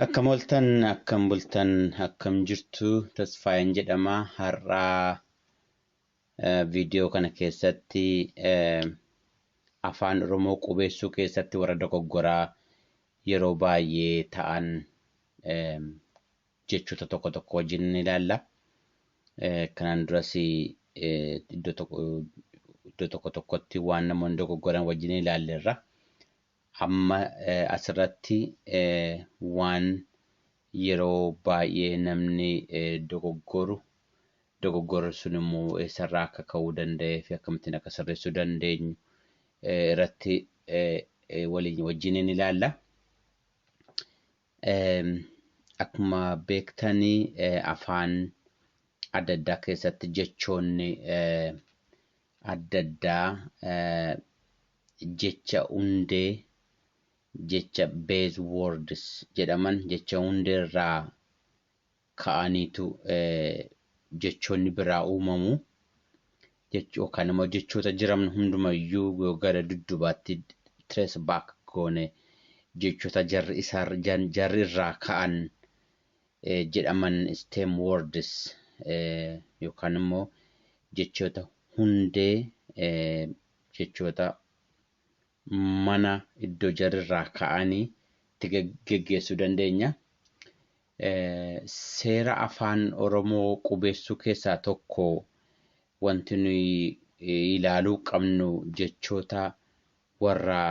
Akkam ooltan, akkam bultan, akkam jirtu Tasfaayeen jedhama. Har'aa viidiyoo kana keessatti afaan Oromoo qubeessuu keessatti warra dogoggoraa yeroo baay'ee ta'an jechoota tokko tokko wajjin ni ilaalla. Kanaan duras iddoo tokko tokkotti waan namoonni dogoggoran wajjin ilaalleerra. Amma asirratti waan yeroo baay'ee namni dogoggoru, dogoggorri sun immoo eessarraa akka ka'uu danda'ee fi akkamittiin akka sirreessuu dandeenyu irratti waliin wajjiniin ilaalla. Akkuma beektan afaan adda addaa keessatti jechoonni adda addaa jecha hundee jecha base words jedhaman jecha hundee irraa ka'aniitu jechoonni biraa uumamu. Yookaan immoo jechoota jiran hundumayyuu yoo gara duddubaatti trace back goone jechoota jarri isaa jarri irraa ka'an jedhaman stem words yookaan immoo jechoota hundee jechoota mana iddoo jarri irraa ka'anii itti geggeessuu dandeenya. Seera Afaan Oromoo qubeessuu keessaa tokko wanti nuyi ilaaluu qabnu jechoota warra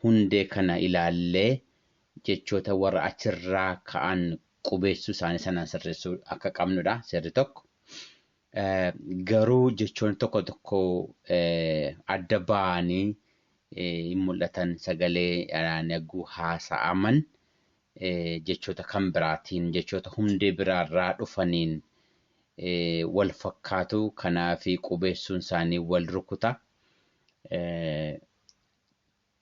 hundee kana ilaallee jechoota warra achirraa ka'an qubeessuu isaanii sanaan sirreessuu akka qabnudha seerri tokko. Garuu jechoonni tokko tokko adda ba'anii hin mul'atan sagalee dhaaniyagguu haasa'aman jechoota kan biraatiin, jechoota hundee biraarraa dhufaniin wal fakkaatu. Kanaaf qubeessuun isaanii wal rukuta.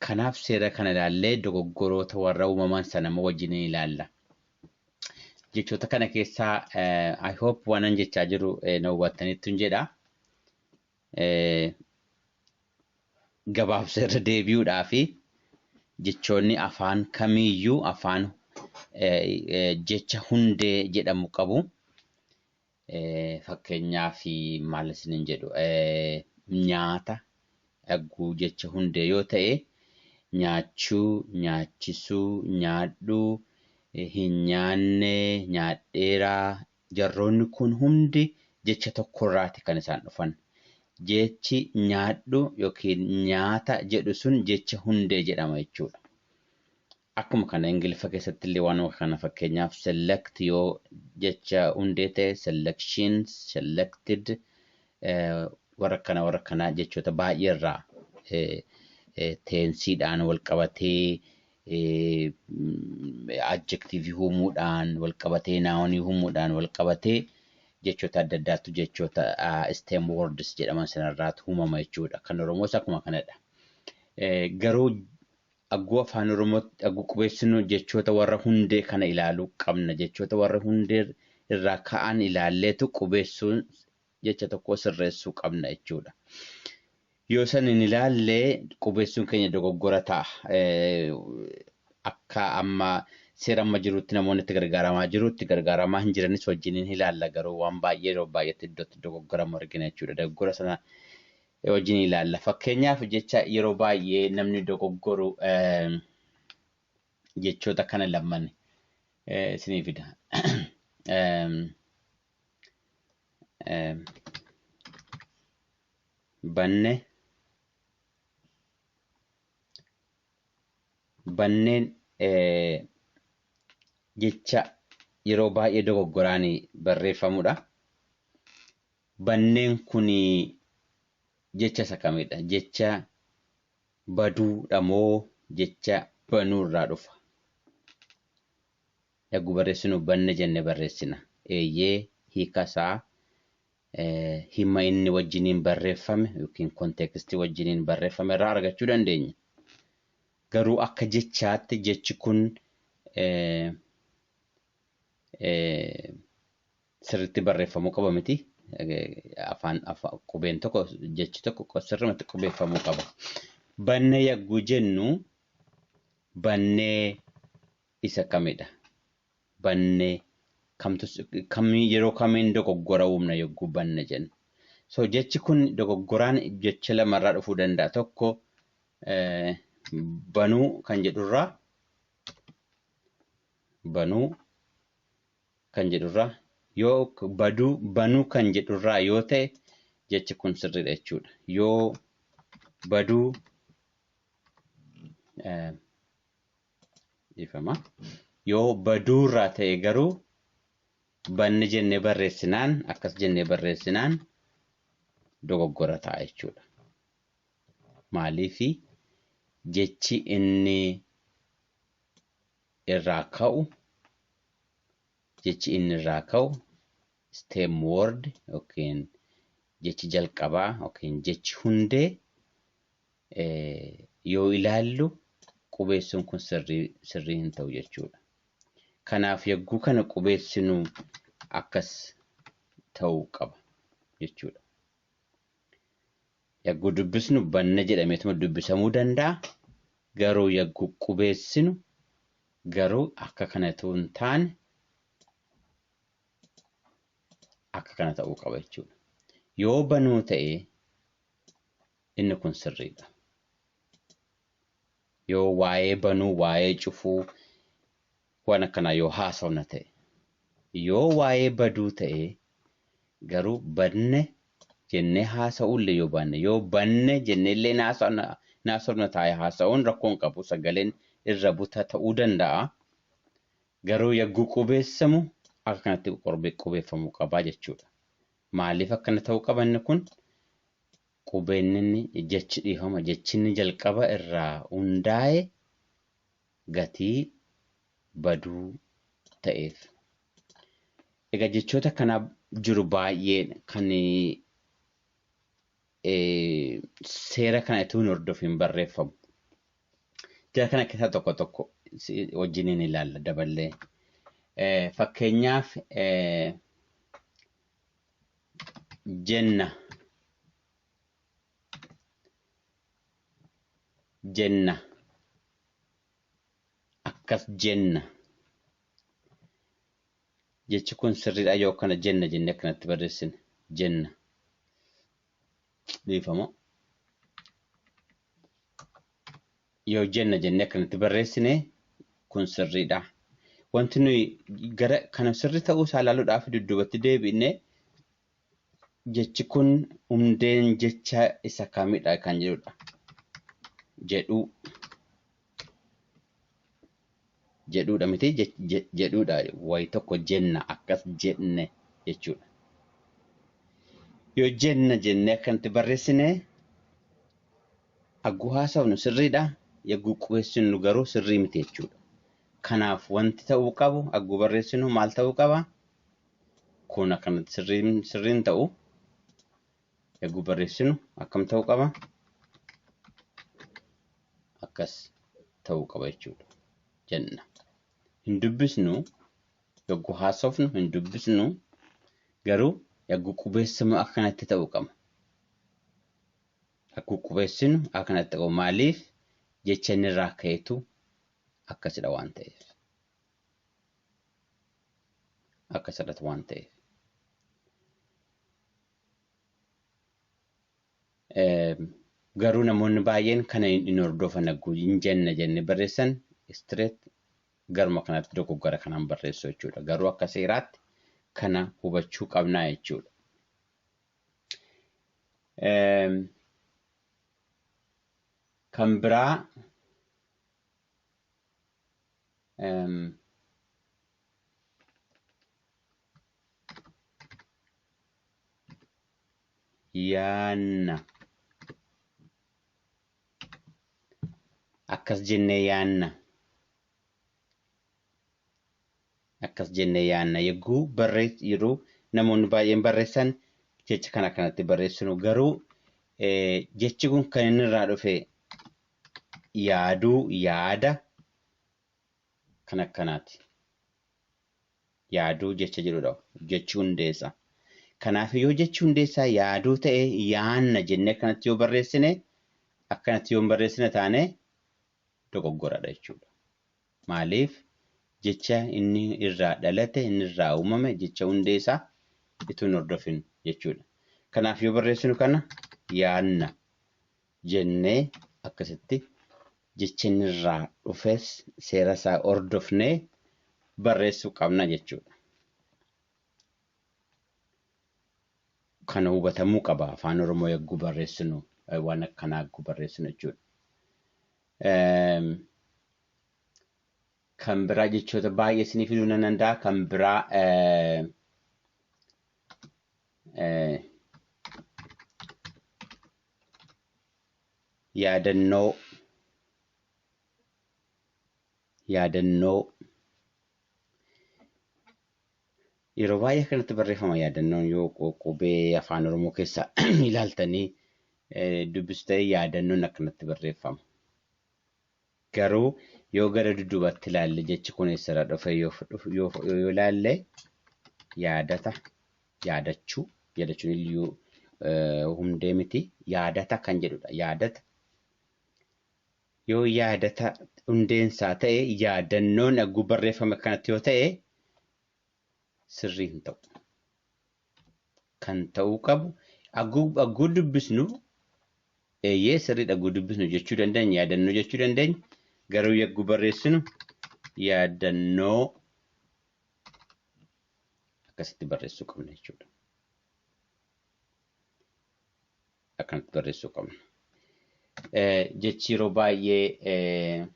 Kanaaf seera kana ilaallee dogoggoroota warra uumaman sana immoo wajjin ilaalla. Jechoota kana keessaa I hope waanan jechaa jiru na hubattanittun jedha. gabaabsa irra deebi'uudhaafi jechoonni afaan kamiiyyuu afaan jecha hundee jedhamu qabu. Fakkeenyaaf maal isiniin jedhu nyaata dhagguu jecha hundee yoo ta'e nyaachuu, nyaachisuu, nyaadhuu, hin nyaanne, nyaadheeraa, Jarroonni kun hundi jecha tokkorraati kan isaan dhufan. Jechi nyaadhu yookiin nyaata jedhu sun jecha hundee jedhama jechuudha. Akkuma kana Ingiliffa keessattillee waanuma kana fakkeenyaaf select yoo jecha hundee ta'e selection, selected warra kana warra kana jechoota baay'eerraa teensiidhaan walqabatee adjectivii uumuudhaan walqabatee naawonii uumuudhaan walqabatee jechoota adda addaatu jechoota stem words jedhaman sanarraatu uumama jechuudha. Kan Oromoos akkuma kanadha. Garuu agguu afaan Oromootti agguu qubeessinu jechoota warra hundee kana ilaaluu qabna. Jechoota warra hundee irraa ka'an ilaalleetu qubeessuun jecha tokkoo sirreessuu qabna jechuudha. Yoo san hin ilaalle qubeessuun keenya dogoggora ta'a. Akka amma seera amma jirutti namoonni itti gargaaramaa jiru itti gargaaramaa hin jiranis wajjin hin ilaalla garuu waan baay'ee yeroo baay'eetti iddootti dogoggoramu argina jechuudha. Dogoggora sana wajjin ilaalla. Fakkeenyaaf jecha yeroo baay'ee namni dogoggoru jechoota kana lamaan isinii fida. banne banneen jecha yeroo baay'ee dogoggoraan barreeffamudha. Banneen kun jecha isa kamidha? Jecha baduudha moo jecha banuu irraa dhufa? Yaggu barreessinu banne jenne barreessina. Eeyyee, hiika isaa hima inni wajjiniin barreeffame ykn konteekstii wajjiniin barreeffame irraa argachuu dandeenya. Garuu akka jechaatti jechi kun sirriitti barreeffamuu qaba miti. Afaan qubeen tokko jechi tokko sirrumatti qubeeffamuu qaba. Banne yagguu jennu bannee isa kamidha? Banne kamtu kami yeroo kamiin dogoggora uumna yogguu banne jennu? So jechi kun dogoggoraan jecha lama irraa dhufuu danda'a. Tokko banuu kan jedhurraa banuu kan jedhurraa yoo baduu banuu kan jedhurraa yoo ta'e jechi kun sirriidha jechuudha. Yoo baduu Dhiifama. Yoo baduurraa ta'e garuu banne jennee barreessinaan akkas jennee barreessinaan dogoggora ta'a jechuudha. Maaliifi jechi inni irraa ka'u jechi inni irraa ka'u stem word yookiin jechi jalqabaa yookiin jechi hundee yoo ilaallu qubeessuun kun sirrii sirrii hin ta'u jechuudha. Kanaaf yagguu kana qubeessinuu akkas ta'uu qaba jechuudha. Yagguu dubbisnu banna jedhameetuma dubbisamuu danda'a. Garuu yagguu qubeessinu garuu akka kanatu hin taane akka kana ta'uu qaba jechuudha. Yoo banuu ta'e Inni kun sirriidha. Yoo waa'ee banuu, waa'ee cufuu waan akkanaa yoo haasofna ta'e. Yoo waa'ee baduu ta'e garuu badne jennee haasa'uullee yoo baanne, yoo banne jenneellee hin haasofna, hin haasofna taa'ee haasa'uun rakkoo hin qabu. Sagaleen irra buta ta'uu danda'a. Garuu yagguu qubeessamu akka kanatti qubeeffamuu qaba jechuudha. Maaliif akkana ta'uu qaba inni kun? Qubeenninni, jechi dhiifama, jechinni jalqaba irraa hundaa'e gatii baduu ta'eef. Egaa jechoota akkanaa jiru baay'een kan seera kana utuu hin hordofiin barreeffamu. Jara kana keessaa tokko tokko wajjiniin ilaalla daballee. Fakkeenyaaf jenna jenna akkas jenna jechi kun sirriidha yoo akkana jenna jenne akkanatti barreessine jenna dhiifama yoo jenna jennee akkanatti barreessine kun sirriidha. Wanti nuyi gara kana sirri ta'uu isaa ilaaluudhaaf dudduubatti deebi'ne jechi kun hundeen jecha isa kamidha kan jedhudha. Jedhuu jedhuudha miti jedhuudha wayi tokko jenna akkas jenne jechuudha. Yoo jenna jenne akkanatti barreessine agguu haasofnu sirriidha yagguu qubeessinu garuu sirrii miti jechuudha. Kanaaf wanti ta'uu qabu agguu barreessinu maal ta'uu qaba? Kun akkanatti sirriin ta'u Eeguu barreessinu akkam ta'uu qaba? Akkas ta'uu qaba jechuudha. Jenna. Hin dubbisnu yogguu haasofnu hin dubbisnu garuu yogguu qubeessamu akkanatti ta'uu qaba. Akkuu qubeessinu akkanatti ta'uu maaliif jecha inni irraa ka'etu akkasidha waan ta'eef. Akkasidhatu waan ta'eef. Garuu namoonni baay'een kana hin hordofan hagguu hin jenna jennee barreessan istireet garuma kanatti dogoggora kanaan barreessu jechuudha. Garuu akka seeraatti kana hubachuu qabnaa jechuudha. Kan biraa yaanna. Akkas jennee yaanna. Akkas jennee yaanna. Yogguu barreess yeroo namoonni baay'een barreessan jecha kana kanatti barreessinu garuu jechi kun kan inni irraa dhufe yaaduu yaada kan akkanaati. yaaduu jecha jedhudha. Jechi hundeessa. Kanaaf yoo jechi hundeessaa yaaduu ta'e yaanna jennee akkanatti yoo barreessine akkanatti yoo hin barreessine taane dogoggoradha jechuudha. Maaliif jecha inni irraa dhalate inni irraa uumame jecha hundeessaa ituu hin hordofin jechuudha. Kanaaf yoo barreessinu kana yaanna jennee akkasitti jechi inni irraa dhufes seera isaa hordofnee barreessuu qabna jechuudha. Kana hubatamuu qaba afaan Oromoo yagguu barreessinu waan akkanaa yagguu barreessinu jechuudha. Kan biraa jechoota baay'ee isinii fiduu nan danda'a. Kan biraa yaadannoo yaadannoo yeroo baay'ee akkanatti barreeffama yaadannoon yoo qu- qubee afaan oromoo keessaa ilaaltanii eh, dubbistee yaadannoon akkanatti barreeffama. Garuu yoo gara dudubatti ilaalle jechi kun eessarra dhufe yoo ilaalle yaadata, yaadachuu, yaadachuun iyyuu hundee miti yaadata kan jedhudha. Yaadata yoo yaadata hundeen isaa ta'e yaadannoon agguu barreeffame akkanatti yoo ta'e sirrii hin ta'u. kan ta'uu qabu agguu dubbisnu eeyyee sirriidha agguu dubbisnu jechuu dandeenya yaadannoo jechuu dandeenya garuu yagguu barreessinu yaadannoo akkasitti barreessuu qabna jechuudha. Akkanatti barreessuu qabna. Jechi yeroo baay'ee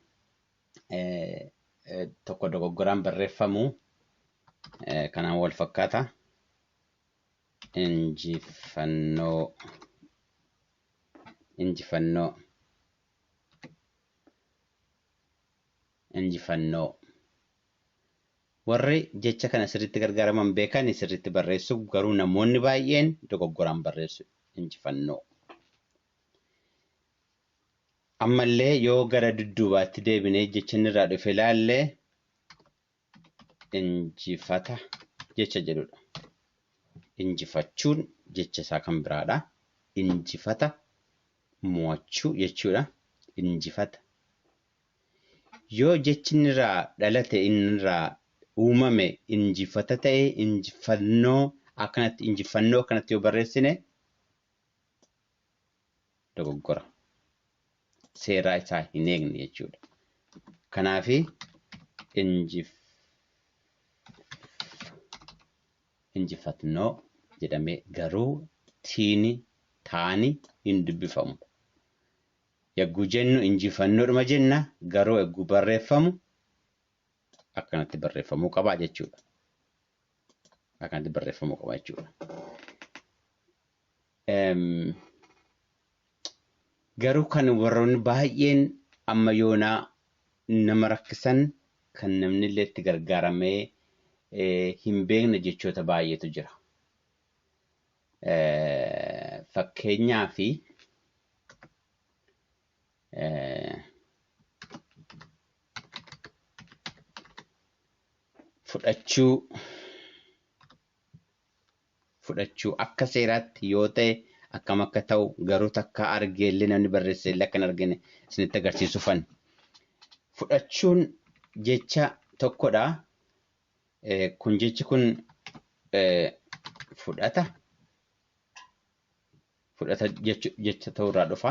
tokko dogoggoraan barreeffamu kanaan wal fakkaata. Injifannoo injifannoo injifannoo warri jecha kana sirriitti gargaaraman beekan sirriitti barreessu garuu namoonni baay'een dogoggoraan barreessu injifannoo. Ammallee yoo gara dudduubaatti deebinee jecha inni irraa dhufe ilaalle injifata jecha jedhudha. Injifachuun jecha isaa kan biraadha. Injifata mo'achuu jechuudha. Injifata. Yoo jechi inni irraa dhalate inni irraa uumame injifata ta'e injifannoo akkanatti injifannoo akkanatti yoo barreessine dogoggora seeraa isaa hin eegne jechuudha. Kanaaf injifatnoo jedhamee garuu tiini taani hin dubbifamu. Yagguu jennu injifannoodhuma jenna garuu yagguu barreeffamu akkanatti barreeffamuu qaba jechuudha. Akkanatti barreeffamuu qaba jechuudha. Garuu kan warroonni baay'een amma yoonaa nama rakkisan kan namni illee itti gargaaramee hin beekne jechoota baay'eetu jira. Fakkeenyaaf fudhachuu fudhachuu akka seeraatti yoo ta'e akkam akka ta'u garuu takkaa argee illee namni barreesse illee akka hin argine isinitti agarsiisuufan. Fudhachuun jecha tokkodha. Kun jechi kun fudhata fudhata jecha ta'uu irraa dhufa.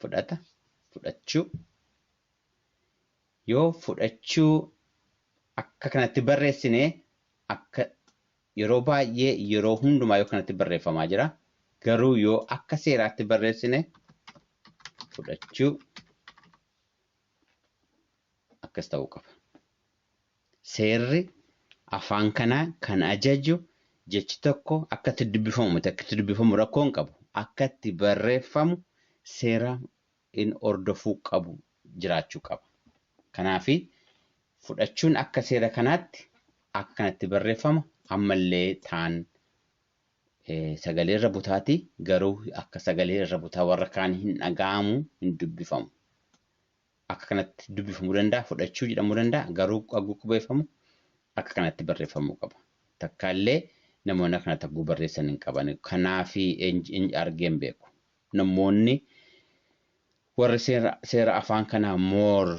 Fudhata fudhachuu. Yoo fudhachuu akka kanatti barreessine akka yeroo baay'ee yeroo hundumaa yoo kanatti barreeffamaa jira. Garuu yoo akka seeraatti barreessine fudhachuu akkas ta'uu qaba. Seerri afaan kanaa kan ajaju jechi tokko akka itti dubbifamu miti akka itti dubbifamu rakkoo hin qabu. Akka itti barreeffamu seera in hordofuu qabu jiraachuu qaba. Kanaafi, fudhachuun akka seera kanaatti akkanatti barreeffama, amma illee taan sagalee irra butaati, garuu akka sagalee irra butaa warra kaanii hin dhaga'amu, hin dubbifamu. Akka kanatti dubbifamuu danda'a, fudhachuu jedhamuu danda'a, garuu hagguu qubeeffamu akka kanatti barreeffamuu qaba. Takkaa illee namoonni akkana tagguu barreessan hin qaban. Kanaafi argee hin beeku. namoonni warri seera afaan kana more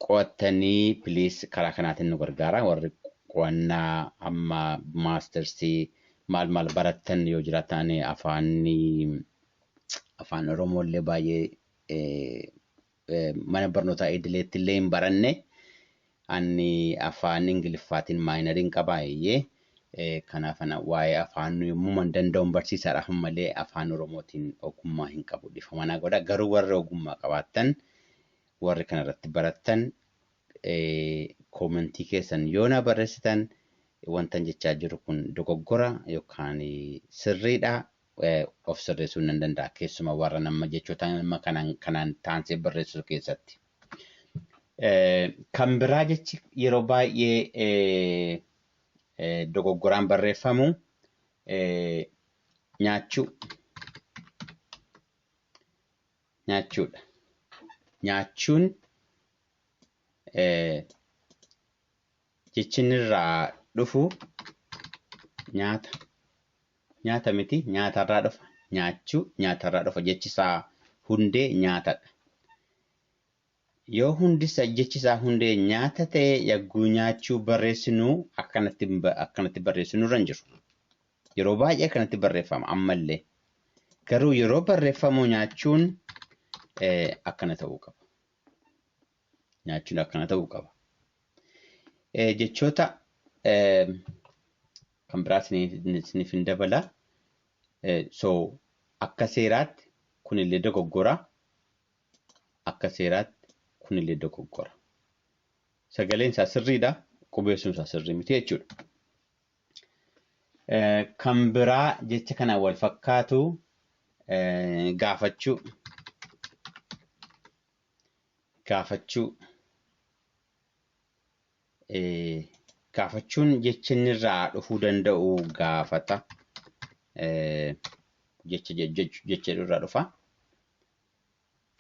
qo'attanii please karaa kanaatiin nu gargaara warri qo'annaa amma maastersii maal maal barattan yoo jiraattan ani afaanni afaan oromoo illee baay'ee mana barnootaa idileetti illee hin baranne. Anni afaan Ingiliffaatiin maayinariin qabaa eeyyee. Kanaaf ana waa'ee afaan yommuman danda'un barsiisaadha kan malee afaan Oromootiin ogummaa hin qabu dhifama naa godha. Garuu warri ogummaa qabaattan warri kana irratti barattan koomentii keessan yoo naa barreessitan wantan jechaa jiru kun dogoggora yookaan sirriidha of sirreessuun nan danda'a keessumaa warra nama jechoota nama kanaan kanaan taansee barreessu keessatti. Kan biraa jechi yeroo baay'ee dogoggoraan barreeffamu nyaachuu nyaachuudha. Nyaachuun jechinirraa dhufu nyaata nyaata miti nyaatarraa dhufa nyaachuu nyaatarraa dhufa jechisaa hundee nyaatadha. Yoo hundisa jechisaa hundee nyaata ta'e yagguu nyaachuu barreessinu akkanatti akkanatti barreessinu irra hin jiru. Yeroo baay'ee akkanatti barreeffama ammallee. Garuu yeroo barreeffamu nyaachuun akkana ta'uu qaba. nyaachuun akkana ta'uu qaba. Eh, Jechoota eh, kan biraa isiniif isiniif hin dabala. Eh, So akka seeraatti kunillee dogoggora. Akka seeraatti kunillee dogoggora. Sagaleen isaa sirriidha. Qubeessuun isaa sirrii miti jechuudha. Eh, Kan biraa jecha kana wal fakkaatu eh, gaafachuu. gaafachuu gaafachuun jecha inni irraa dhufuu danda'u gaafata jecha jecha irraa dhufa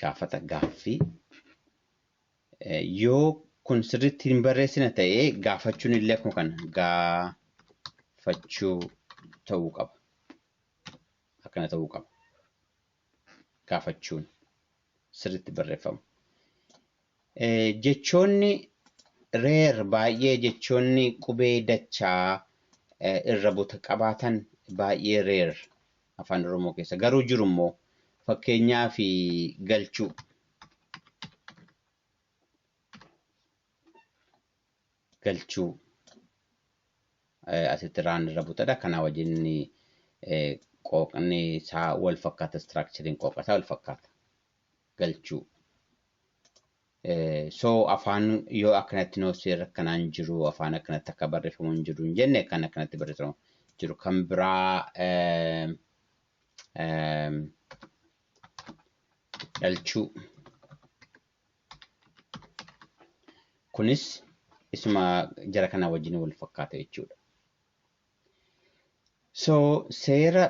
gaafata gaaffii yoo kun sirriitti hin barreessina ta'ee gaafachuun illee akkuma kana gaafachuu ta'uu qaba akkana ta'uu qaba. gaafachuun sirriitti barreeffama. Jechoonni reer baay'ee jechoonni qubee dachaa irra buta qabaatan baay'ee reer afaan Oromoo keessa garuu jiru immoo fakkeenyaa fi galchuu. galchuu asitti raan irra butadha. Kanaa wajjin qooqni isaa wal fakkaata istiraakchariin qooqa isaa wal fakkaata. Galchuu. So afaan yoo akkanatti noosee rakkanaan jiru afaan akkanatti akka barreeffamu hin jiru hin jenne kan akkanatti barreeffamu jiru kan biraa dhalchuu. Kunis isuma jara kanaa wajjin wal fakkaata jechuudha. So seera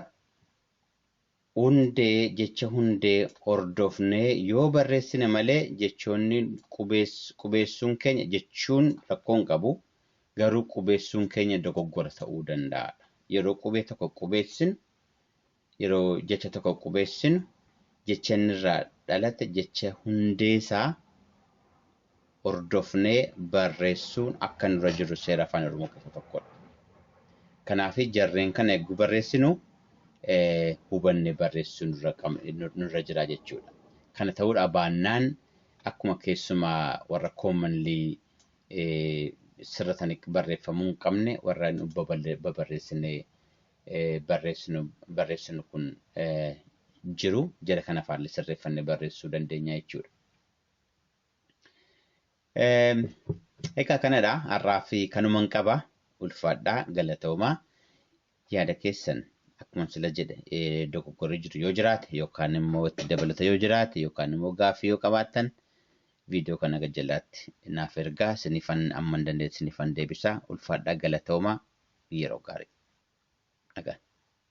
hundee jecha hundee hordofnee yoo barreessine malee jechoonni qubeessuun keenya jechuun rakkoo hin qabu garuu qubeessuun keenya dogoggora ta'uu danda'a. Yeroo qubee tokko qubeessinu Yeroo jecha tokko qubeessinu jecha inni irraa dhalate jecha hundee isaa hordofnee barreessuun akka nurra jiru seera Afaan Oromoo keessaa tokkodha. Kanaaf jarreen kana egguu barreessinu hubannee barreessuu nurra qab- nur- nurra jira jechuudha. Kana ta'uudhaa baannaan akkuma keessuma warra commonly eh, sirratanii barreeffamuu hin qabne warra nu baballe- babarreessinee barreessinu kun jiru jara kana faalle sirreeffanne barreessuu dandeenya jechuudha. Egaa kanadha har'aa fi kanuman qaba ulfaadhaa galatoomaa yaada keessan akkuma sila jedhe dogoggorri jiru yoo jiraate yookaan immoo itti dabalata yoo jiraate yookaan immoo gaaffii yoo qabaattan Video kana gad jalaatti naaf ergaa isinifan amman dandeetti isinifan deebisaa ulfaadhaa galatoomaa yeroo gaarii. Nagaan.